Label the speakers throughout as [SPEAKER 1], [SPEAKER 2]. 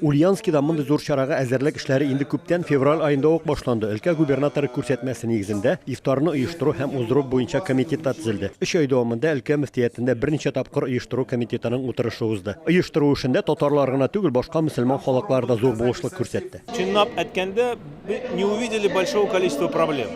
[SPEAKER 1] Ульянскида мондый зур чарага әзерлек эшләре инде күптән февраль аенда ук башланды. Өлкә губернаторы күрсәтмәсе нигезендә ифтарны оештыру һәм уздыру буенча комитет та төзелде. Өч ай дәвамында өлкә мөфтиятендә берничә тапкыр оештыру комитетының утырышы узды. Оештыру эшендә татарлар гына түгел, башка мөселман халыклар да зур булышлык күрсәтте. Чынлап әйткәндә,
[SPEAKER 2] не увидели большого количества проблем.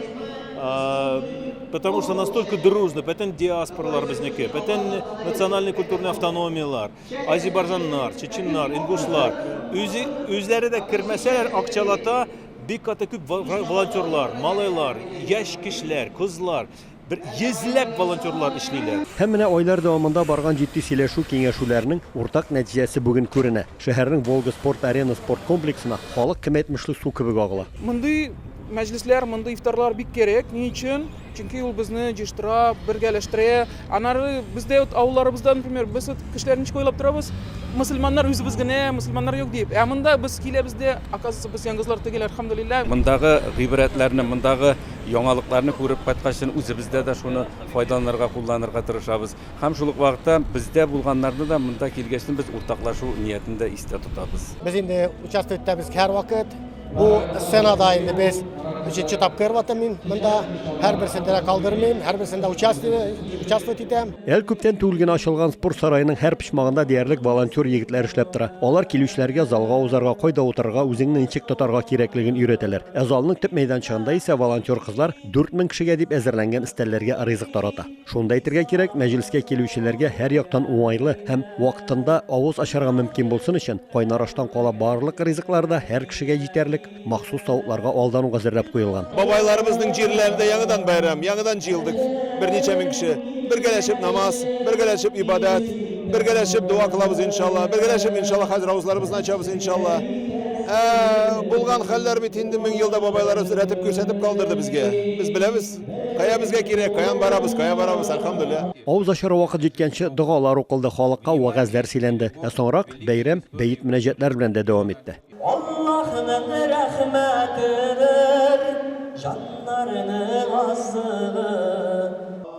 [SPEAKER 2] Потому что настолько дружно, бөтен диаспоралар безнеке, бөтен национальный культурный автономияләр. Азербайжаннар, чеченнар, ингушлар үзе үзләре дә кермәсәләр, акчалата бик каты күп волонтерлар, малайлар, яшь кешеләр, кызлар, бер йөзләп волонтерлар эшлиләр. Һәм менә айлар дәвамында
[SPEAKER 1] барган җитди сөйләшү, киңәшүләрнең уртак нәтиҗәсе бүген күренә. Шәһәрнең Волга спорт-арена спорт комплексына халык кем әйтмешле су кебек агыла. Мондый
[SPEAKER 3] мәҗлесләр, мондый ифтарлар бик кирәк. Ни өчен? Чөнки ул безне җыештыра, бергәләштерә. Аннары бездә вот авылларыбызда, например, без вот кешеләр ничек уйлап торабыз, мөселманнар үзебез генә, мөселманнар юк дип. Ә монда без киләбез дә, оказывается, без янгызлар түгел, әлхәмдүлилләһ. Мондагы гыйбрәтләрне,
[SPEAKER 4] мондагы яңалыкларны күреп кайткач, үзебездә дә шуны файдаланырга, кулланырга тырышабыз. Һәм шул ук вакытта бездә булганнарны да монда килгәчне без уртаклашу ниятен дә истә тотабыз. Без инде участок
[SPEAKER 5] үтәбез һәрвакыт. Бу сценада инде без җитче тапкыр ватамин. Монда һәрберсен дә калдырмыйм, һәрберсендә участвовать итәм. Әле күптән түгел генә
[SPEAKER 1] ачылган спорт сараеның һәр почмагында диярлек волонтер егетләр эшләп тора. Алар килүчеләргә залга узарга, кайда утырырга, үзеңне ничек тотарга кирәклеген өйрәтәләр. Ә залның төп мәйданчыгында исә волонтер кызлар 4000 кешегә дип әзерләнгән өстәлләргә ризык тарата. Шуны да әйтергә кирәк, мәҗлескә килүчеләргә һәрьяктан уңайлы һәм вакытында авыз ачарга мөмкин булсын өчен, кайнар аштан кала барлык ризыклар да һәр кешегә җитәрлек, махсус тавыкларга алдан ук әзерләп куелган. Бабайларыбызның җирләрендә
[SPEAKER 2] яңадан бәйрәм, яңадан җыелдык берничә мең кеше. Бергәләшеп намаз, бергәләшеп ибадәт, бергәләшеп дога кылабыз, иншалла, бергәләшеп, иншалла, хәзер авызларыбызны ачабыз, иншалла. Ә булган хәлләр бит инде мең елда бабайларыбыз рәтеп күрсәтеп калдырды безгә. Без беләбез. Кая безгә кирәк, каян барабыз, кая барабыз, әлхәмдүлилла. Авыз ачар вакыт
[SPEAKER 1] җиткәнче догалар укылды, халыкка вәгазьләр сөйләнде. Ә соңрак бәйрәм бәет-мөнәҗәтләр белән дә дәвам итте. Аллаһының рәхмәтедер
[SPEAKER 6] җаннарны азыгы.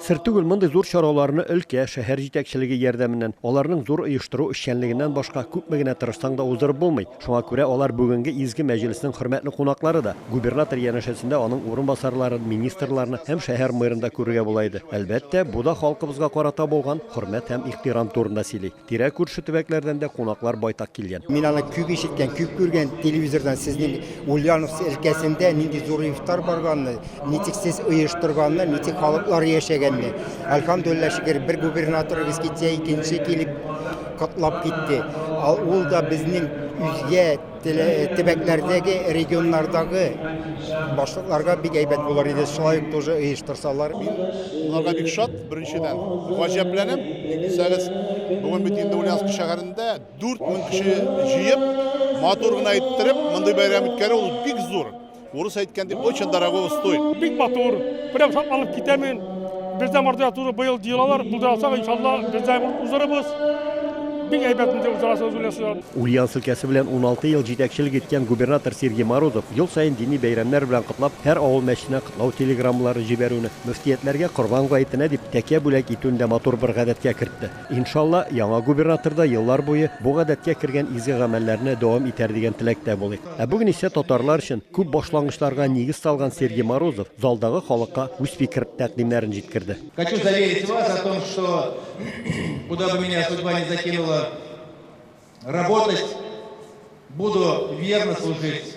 [SPEAKER 6] Сер түгел,
[SPEAKER 1] мондый зур чараларны өлкә, шәһәр җитәкчелеге ярдәменнән, аларның зур оештыру эшчәнлегеннән башка күпме генә тырышсаң да уздырып булмый. Шуңа күрә алар бүгенге изге мәҗлеснең хөрмәтле кунаклары да. Губернатор янәшәсендә аның урынбасарларын, министрларны һәм шәһәр мэрын да күрергә була иде. Әлбәттә, бу да халкыбызга карата булган хөрмәт һәм ихтирам турында сөйли. Тирә-күрше төбәкләрдән дә кунаклар байтак килгән. Мин аны күп ишеткән,
[SPEAKER 7] күп күргән телевизордан сезнең Ульяновск өлкәсендә нинди зур ифтар барганны, ничек сез оештырганны, ничек халыклар яшәгәнне. Әлхәмдуллиллаһ, шөкер, бер губернаторыгыз китсә, икенче килеп, котлап китте. Ал ул да безнең үзгә төбәкләрдәге, регионнардагы башлыкларга бик әйбәт булыр иде, шулай ук тоже оештырсалар. Мин аларга
[SPEAKER 8] бик шат, беренчедән, гаҗәпләнәм. Ник дисәгез, бүген бит инде Ульяновск шәһәрендә 4000 кеше җыеп, матур гына иттереп, мондый бәйрәм үткәрү ул бик зур. Урыс әйткән дип, очень дорого устой. Бик матур,
[SPEAKER 9] прям шатланып китәмен. Бездә мордва туры быел җыелалар, булдырасак, иншалла, бездә узырыбыз. Бик әйбәт инде узарасы үзләсе. Ульяновск өлкәсе белән
[SPEAKER 1] 16 ел җитәкчелек иткән губернатор Сергей Морозов ел саен дини бәйрәмнәр белән котлап, һәр авыл мәчетенә котлау телеграммалары җибәрүне, мөфтиятләргә Корбан гаетенә дип тәкә бүләк итүне дә матур бер гадәткә кертте. Иншалла, яңа губернатор да еллар буе бу гадәткә кергән изге гамәлләрне дәвам итәр дигән теләктә булыйк. Ә бүген исә татарлар өчен күп башлангычларга нигез салган Сергей Морозов залдагы халыкка үз фикер-тәкъдимнәрен җиткерде. Хочу заверить вас
[SPEAKER 10] о том, что куда бы меня судьба не закинула работать, буду верно служить